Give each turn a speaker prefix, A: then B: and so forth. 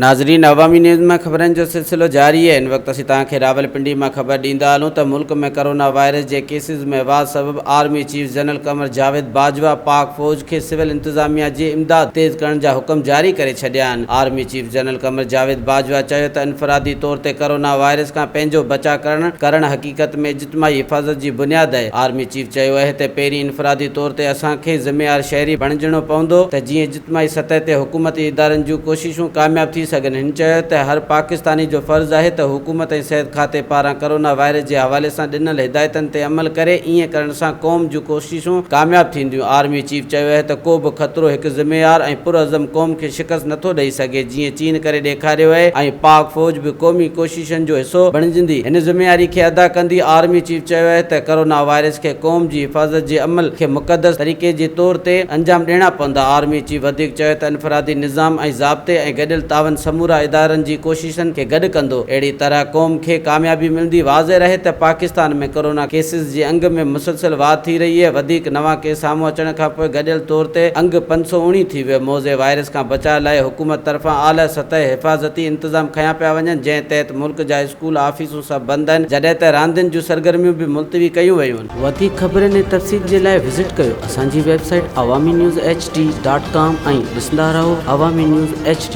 A: ناظرين عوامي نيوز ۾ خبرن جو سلسلو جاري آهي هن وقت اسين توهان کي راولپنڊي مان خبر ڏيندا هلون ته ملڪ ۾ ڪرونا وائرس جي ڪيسز ۾ واڌ سبب army chief general Qamar Javed Bajwa پاڪ فوج کي سول انتظاميا جي امداد تيز ڪرڻ جا حڪم جاري ڪري ڇڏيا آهن army chief general Qamar Javed Bajwa چيو ته انفرادي طور تي ڪرونا وائرس کان پنهنجو بچاء ڪرڻ ڪرڻ حقيقت ۾ اجتماعي حفاظت جي بنياد آهي. آرمي چيف چيو اهي ته پهرين انفرادي طور تي اسان کي ذميوار شهري بڻجڻو پوندو ته جيئن اجتماعي سطح تي حڪومتي ادارن جون ڪوششون ڪامياب ٿي سگهن هن چيو ته هر پاڪستاني جو فرض آهي ته حڪومت ۽ صحت کاتي پاران ڪرونا وائرس جي حوالي سان ڏنل هدايتن تي عمل ڪري ايئن ڪرڻ سان قوم جون ڪوششون ڪامياب ٿينديون آرمي چيف چيو اهي ته ڪو به خطرو هڪ ذميوار ۽ پرعزم قوم کي شڪست نٿو ڏئي سگهي جيئن چين ڪري ڏيکاريو اهي ۽ پاڪ فوج به قومي ڪوششون اسوسيئيشن جو حصو بڻجندي هن ذميواري کي ادا ڪندي آرمي چيف چيو آهي ته ڪرونا وائرس کي قوم جي حفاظت جي عمل کي مقدس طريقي جي طور تي انجام ڏيڻا پوندا آرمي چيف وڌيڪ چيو ته انفرادي نظام ۽ ضابطي ۽ گڏيل تعاون سمورا ادارن جي ڪوششن کي گڏ ڪندو اهڙي طرح قوم کي ڪاميابي ملندي واضح رهي ته پاڪستان ۾ ڪرونا ڪيسز جي انگ ۾ مسلسل واڌ ٿي رهي اهي وڌيڪ نوان ڪيس سامهون اچڻ کانپوء گڏيل طور تي انگ پنج سؤ اوڻي ٿي ويو موضع وائرس کان بچاء لاء حڪومت طرفان اعليٰ سطح حفاظتي انتظام کنيا پيا وڃن جنهن تحت ملڪ جا اسڪول آفيسون سڀ بند آهن جڏهن ته راندين جون سرگرميون به ملتوي ڪيون ويون. وڌيڪ خبرن ۽ تفصيل جي لاء وزٽ ڪيو اسان جي web site Awami news H D dot com ۽ ڏسندا رهو عوامي نيوز ايڇ ڊي.